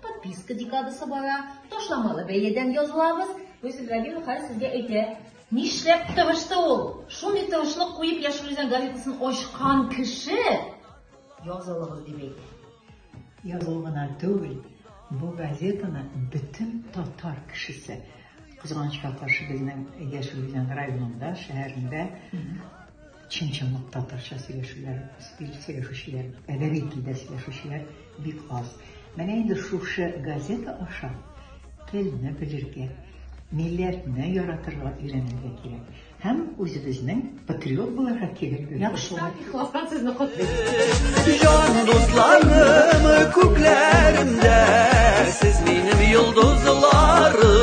Подписка декадасы бара, ташламалы бәядән язылабыз. Гөлсез Рабилова хәзер сезгә әйтә. Нишләп тырышты ул? Шундый тырышлык куеп Яшел Үзән газетасын ачкан кеше язылыгыз дип әйтә. Языл гына түгел, бу газетаны бөтен татар кешесе кызганычка каршы безнең Яшел Үзән районында, шәһәрендә Чын-чынлап татарча сөйләшүләр, сөйләшүчеләр, әдәби телдә сөйләшүчеләр бик аз. Менә инде шушы газета аша телне белергә, милләтне яратырга өйрәнергә кирәк. Һәм үзебезнең патриот буларга кирәк. Яхшылар, ихластан сезне котлыйм. Җан дусларым күкләремдә, сез минем йолдызларым.